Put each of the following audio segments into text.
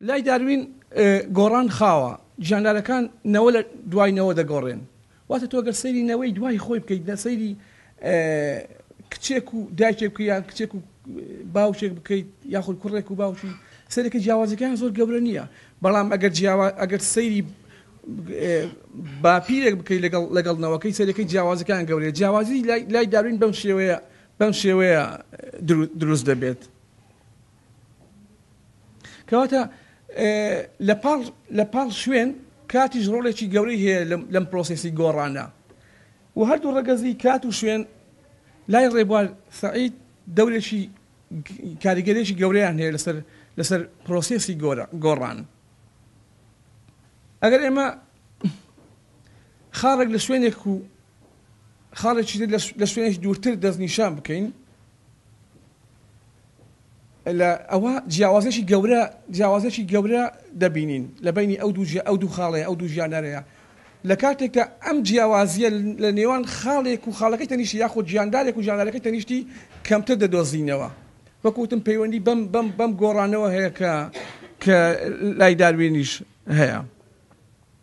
لای داروین گۆڕان خاوە، گیاندارەکان نەوە لە دوای نەوە دەگۆڕێن. واتە تۆ گەر سەیری نەوەی دوای خۆی بکەیت نە سەیری کچێک و دایکێک بکەیت یان کچێک و باوکێک بکەیت یاخود کوڕێک و باوکی سەرەکە جیاوازەکان زۆر گەورە نییە بەڵام ئەگەر جیاوا ئەگەر سەیری باپیرێک بکەیت لەگەڵ لەگەڵ نەوەکەی سەرەکەی جیاوازەکان گەورەیە جیاوازی لای داروین بەم شێوەیە بەم شێوەیە دروست دەبێت. کەواتە لەپاڵ لەپاڵ شوێن کاتیش ڕۆڵێکی گەورەی هەیە لەم پرۆسیسی گۆڕانە و هەردوو ڕەگەزی کات و شوێن لای ڕێبوار سعید دەورێکی کاریگەرێکی گەورەیان هەیە لەسەر لەسەر پرۆسیسی گۆڕان ئەگەر ئێمە خاڕێک لە شوێنێک و خاڵێکی لە شوێنێک دوورتر دەستنیشان بکەین لە ئەوە جیاوازیەکی گەورە جیاوازیەکی گەورە دەبینین لە بەینی ئەو دوو ئەو دوو خاڵەیە ئەو دوو ژیانەرەیە لە کاتێکدا ئەم جیاوازیە لە نێوان خاڵێک و خاڵەکەی تەنیشتی یاخود جیاندارێک و جیاندارەکەی تەنیشتی کەمتر دەدۆزینەوە وەکوتم پەیوەندی بەم بەم بەم گۆڕانەوە هەیە کە کە لای داروینیش هەیە.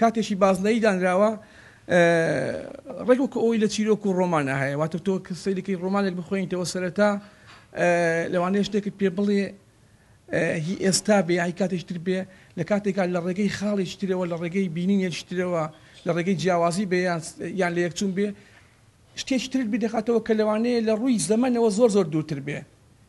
کاتێکی بازنەیی دانراوە ڕێک وەکو ئەوەی لە چیرۆک و ڕۆمانا هەیە واتە تۆ کە سەیرێکی ڕۆمانێک بخوێنیتەوە سەرەتا لەوانەیە شتێکت پێ بڵێ هی ئێستا بێ هی کاتێکی تر بێ لە کاتێکا لە ڕێگەی خاڵێکی ترەوە لە ڕێگەی بینینێکی ترەوە لە ڕێگەی جیاوازی بێ یان لە یەکچوون بێ شتێکی ترت بیدەخاتەوە کە لەوانەیە لە ڕووی زەمەنەوە زۆر زۆر دوورتر بێ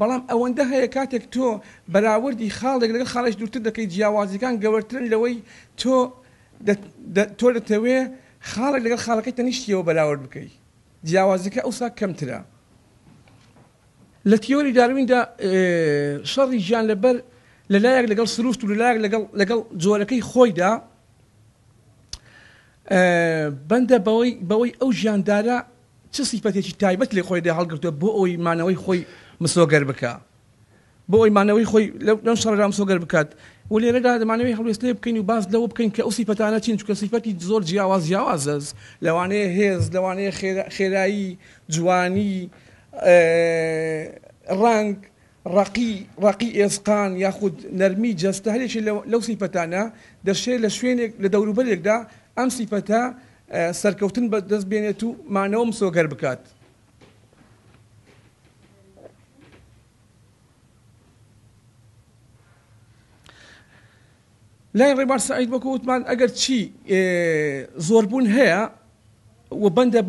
بەڵام ئەوەندە هەیە کاتێک تۆ بەراوردی خاڵێک لەگەڵ خاڵێک دوورتر دەکەی جیاوازیەکان گەورترن لەوەی تۆ تۆ دەتەوێ خاڵێک لەگەڵ خاڵەکەی تەنیشتیەوە بەراورد بکەی جیاوازیەکە ئەوسا کەمترە. لە تیۆری دارویندا شەڕی گیانلەبەر لە لایەک لەگەڵ سروشت و لە لایەک لەگەڵ لەگەڵ جۆرەکەی خۆیدا بەندە بەوەی بەوەی ئەو ژیاندارە چ سیفەتێکی تایبەت لە خۆیدا هەڵگرتووە بۆ ئەوەی مانەوەی خۆی مسۆگەر بکا بۆ ئەوی مانەوەی خۆی لەم شەڕدا مسۆگەر بکات و لێرەدا دەمانەوەی هەڵوێست لێ بکەین و باس لەوە بکەین کە ئەو سیفەتانە چین چونکە سیفەتی زۆر جیاواز جیاوازە لەوانەیە هێز لەوانەیە خێرایی جوانی ڕەنگ ڕەقی، ڕەقی ئێسقان یاخود نەرمی جەستە هەریەکێ لەو سیفەتانە دەشێ لە شوێنێک لە دەوروبەرێکدا ئەم سیفەتە سەرکەوتن بە دەست بێنێت و مانەوە مسۆگەر بکات. لای ڕێبار سەعید وەکو وتمان ئەگەر چی زۆر بوون هەیە و بەندە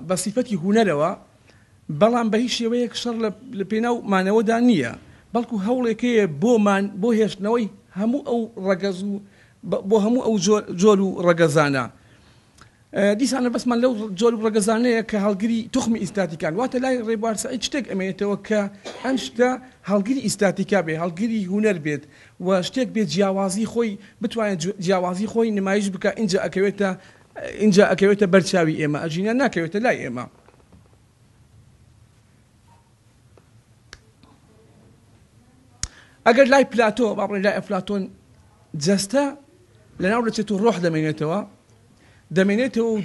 بە سیفەتی هوونەرەوە بەڵام بە هیچ شێوەیەک شەڕ لە پێناو مانەوەدا نییە بەڵکو هەوڵێکەیە بۆمان بۆ هێشتنەوەی هەموو ئەو ڕەگەز و بۆ هەموو ئەو جۆر و ڕەگەزانە دیسانە بەسمان لەو جۆر ڕەگەزانەیە کە هەڵگری توخمی ئیستاتیکان، واتە لای ڕێبوار سەعید شتێک ئەمێنێتەوە کە ئەم شتە هەڵگری ئیستاتیکا بێت، هەڵگری هونەر بێت و شتێک بێت جیاوازی خۆی بتوانێت جیاوازی خۆی نمایش بکا ئینجا ئەکەوێتە ئینجا ئەکەوێتە بەر چاوی ئێمە ئەژینا ناکەوێتە لای ئێمە. ئەگەر لای پلاتۆ با بڵێین لای ئەفلاتۆن جەستە لەناو دەچێت و ڕۆح دەمێنێتەوە، دەمێنێتەوە و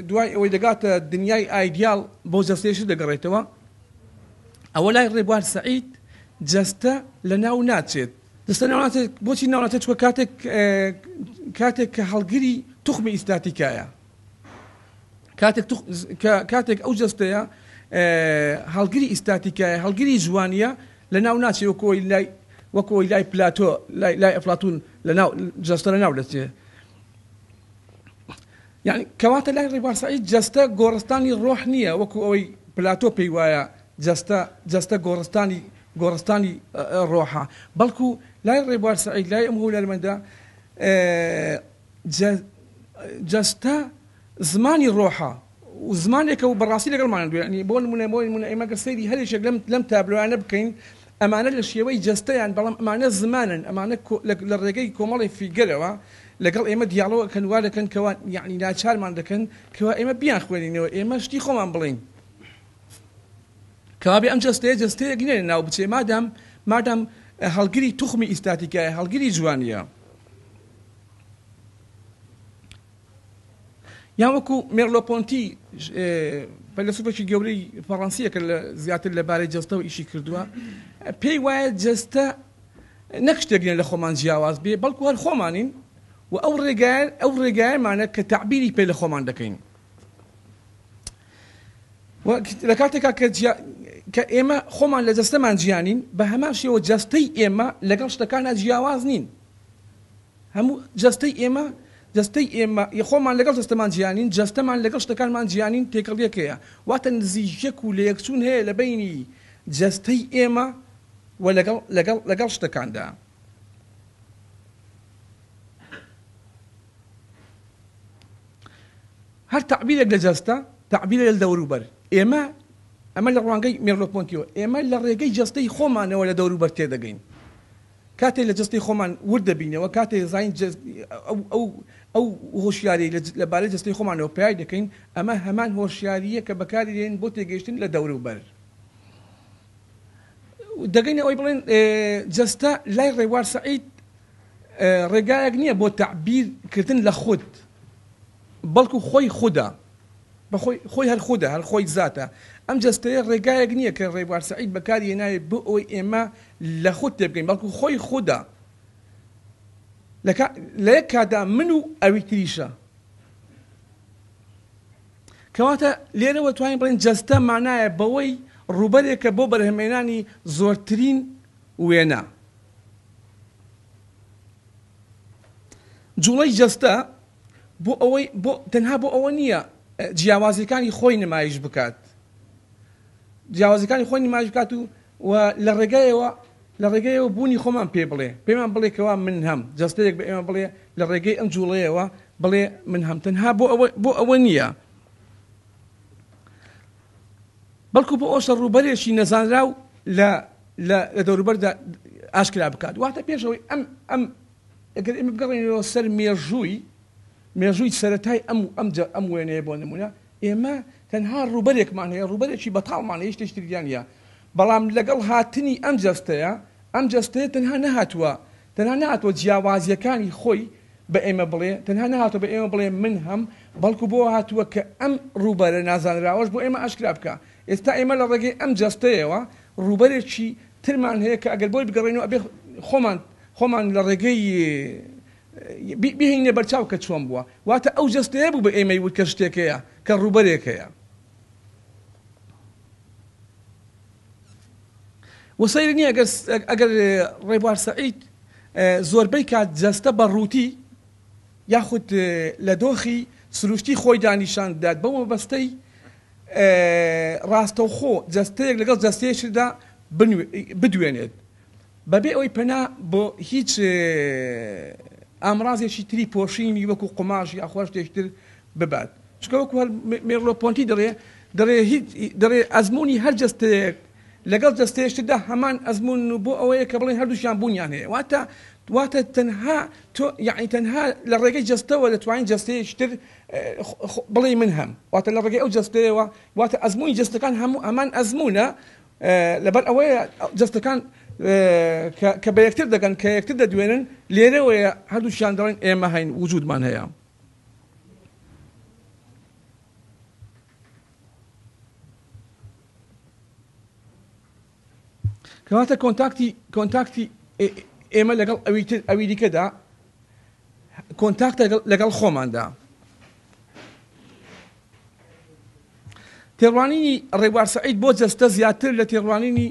دوای ئەوەی دەگاتە دنیای ئایدیاڵ بۆ جەستەیشت دەگەڕێتەوە، ئەوە لای ڕێبوار سەعید جەستە لەناو ناچێت. جەستە لەناو ناچێت، بۆچی لەناو ناچێت؟ چونکە کاتێک کە هەڵگری توخمی ئیستاتیکایە، کاتێک ئەو جەستەیە هەڵگری ئیستاتیکایە، هەڵگری جوانییە، لەناو ناچێت وەکو ئەوەی لای پلاتۆ، لای ئەفلاتوون جەستە لەناو دەچێت. یانی کەواتە لای ڕیبوار سەعید جەستە گۆڕستانی ڕۆح نییە وەکو ئەوەی پلاتۆ پێی وایە جەستە جەستە گۆڕستانی گۆڕستانی ڕۆحە بەڵکو لای ڕێبوار سەعید لای ئەم هونەرمەندە جەستە زمانی ڕۆحە و زمانێکە و بەڕاستی لەگەڵمان دوێنی بۆ نمونە بۆ نمونە ئێمەگە سەیری هەرێکێک لەم لەم تابلوانە بکەین ئەمانە لە شێوەی جەستەیان، بەڵام ئەمانە زمانن، ئەمانە لە ڕێگەی کۆمەڵێ فیگەرەوە لەگەڵ ئێمە دیالۆگ ئەکەن، وا دەکەن کەوا یەعنی ناچارمان دەکەن کەوا ئێمە بیانخوێنینەوە، ئێمە شتی خۆمان بڵێین. کەوابێ ئەم جەستەیە جەستەیەک نییە لە ناو بچێ مادام مادام هەڵگری توخمی ئیستاتیکایە، هەڵگری جوانییە. یان وەکو مێرلۆ پۆنتی فەیلەسوفێکی گەورەی فەڕەنسییە کە زیاتر لەبارەی جەستەوە ئیشی کردووە، پێی وایە جەستە نەک شتێک لە خۆمان جیاواز بێ، بەڵکو هەر خۆمانین و ئەو ڕێگایە ئەو ڕێگایەمانە کە تەعبیری پێ لە خۆمان دەکەین. و لە کاتێکا کە جیا کە ئێمە خۆمان لە جەستەمان جیانین بە هەمان شێوە جەستەی ئێمە لەگەڵ شتەکانە جیاواز نین هەموو جەستەی ئێمە جەستەی ئێمە ی خۆمان لەگەڵ جەستەمان جیا نین، جەستەمان لەگەڵ شتەکانمان جیا نین، تێکەڵیەک هەیە، واتە نزیکیەک و لەیەکچوون هەیە لە بەینی جەستەی ئێمە و لەگەڵ لەگەڵ لەگەڵ شتەکاندا. هەر تەعبیرێک لە جەستە تەعبیرە لە دەوروبەر ئێمە، ئەمە لە ڕوانگەی مێرلۆ پۆنتیۆ، ئێمە لە ڕێگەی جەستەی خۆمانەوە لە دەوروبەر تێدەگەین. کاتێ لە جەستەی خۆمان ورد دەبینەوە، کاتێ دەزانین ئەو ئەو هۆشیاریەی لە بارەی جەستەی خۆمانەوە پەیای دەکەین، ئەمە هەمان هۆشیارییە کە بەکاری دەهێنین بۆ تێگەیشتن لە دەوروبەر. دەگەینە ئەوەی بڵێین جەستە لای ڕێبوار سەعید ڕێگایەک نییە بۆ تەعبیر کردن لە خود. بەڵکو خۆی خودە، بەخۆی، خۆی هەر خودە، هەر خۆی زاتە. ئەم جەستەیە ڕێگایەک نییە کە ڕێبوار سەعید بەکاری هێناوێت بۆ ئەوەی ئێمە لە خود تێبگەین، بەڵکو خۆی خودە. لە کا، لە یەک کاتدا من و ئەوی تریشە. کەواتە لێرەوە توانین بڵێین جەستە مانایە بەوەی ڕووبەرێکە بۆ بەرهەمهێنانی زۆرترین وێنە. جوڵەی جەستە بۆ ئەوەی بۆ تەنها بۆ ئەوە نییە جیاوازیەکانی خۆی نمایش بکات جیاوازەکانی خۆی نمایش بکات و و لە ڕێگایەوە لە ڕێگەیەوە بوونی خۆمان پێ بڵێ پێمان بڵێکەوە من هەم جەستەیەک بە ئێمە بڵێ لە ڕێگەی ئەم جوڵەیەوە بڵێ من هەم تەنها بۆ ئەوە بۆ ئەوە نییە بەڵکو بۆ ئەوشە ڕووبەرێکی نەزانراو لە لە دەوروبەردا ئاشکرا بکات واتە پێشەوەی ئەم ئەم ئەگەر ئێمە بگەڕێینەوە سەر مێژووی مێژووی سەرەتای ئەم ئەم ئەم وێنەیە بۆ نمونە ئێمە تەنها ڕوبەرێکمان هەیە ڕوبەرێکی بەتاڵمان هیچ تشتریان نیە بەڵام لەگەڵ هاتنی ئەم جەستەیە ئەم جەستەیە تەنها نەهاتووە تەنها نهاتوە جیاوازیەکانی خۆی بە ئێمە بڵێ تەنها نهاتوە بە ئێمە بڵێ من هەم بەڵکو بۆ هاتووە کە ئەم ڕوبەرە نازانراوەش بۆ ئێمە ئاشکرا بکە ئێستا ئێمە لە ڕێگەی ئەم جەستەیەوە ڕوبەرێکی ترمان هەیە کە ئەگەر بۆی بگەڕێنەوە ئەبێ خۆمان خۆمان لە ڕێگەی ی بهێنینە بەرچاو کە چۆن بووە، واتە ئەو جەستەیە بوو بە ئێمەی وت کە شتێک هەیە، کە ڕووبەرێک هەیە. وە سەیر نییە ئەگەر ئەگەر ڕێبوار سەعید زۆربەی کات جەستە بە ڕووتی یاخود لە دۆخی سروشتی خۆیدا نیشان بدات بەو مەبەستەی ڕاستەوخۆ جەستەیەک لەگەڵ جەستەیەکتردا بدوێنێت. بەبێ ئەوەی پەنا بۆ هیچ ئامرازێکی تری پۆشینی وەکو قوماش یاخوا شتێکی تر ببات، چونکە وەکو هەر مێرلۆ پۆنتی دەڵێ دەڵێ هیچ دەڵێ ئەزموونی هەر جەستەیەک لەگەڵ جەستەیەکی تردا هەمان ئەزموون و بۆ ئەوەیە کە بڵێین هەردووکیان بوونیان هەیە واتە واتە تەنها تۆ یەعنی تەنها لە ڕێگەی جەستەوە دەتوانین جەستەیەکی تر بڵێی من هەم واتە لە ڕێگەی ئەو جەستەیەوە واتە ئەزموونی جەستەکان هەموو هەمان ئەزموونە لەبەر ئەوەیە جەستەکان کە بە یەکتر دەگەن کە یەکتر دەدوێنن لێرەوەیە هەردووشیان دەڵێن ئێمە هەین وجودمان هەیە کەواتە کۆنتاکتی کۆنتاکتی ئێمە لەگەڵ ئەوی تر ئەوی دیکەدا کۆنتاکتە لەگەڵ خۆماندا تێڕوانینی ڕێبوار سەعید بۆ جەستە زیاتر لە تێڕوانینی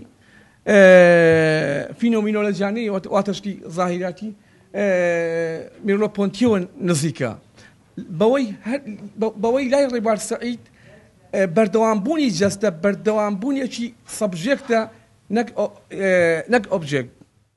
فینۆمینۆلەجیانەی واتەشتی زاهیراتی میرۆ پۆنتیەوە نزیکە بەوەی لای ڕێبار سەعید بەردەوامبوونی جەستە بەردەوامبوونیەکی سەبژێکتە نەک ئۆبژێکت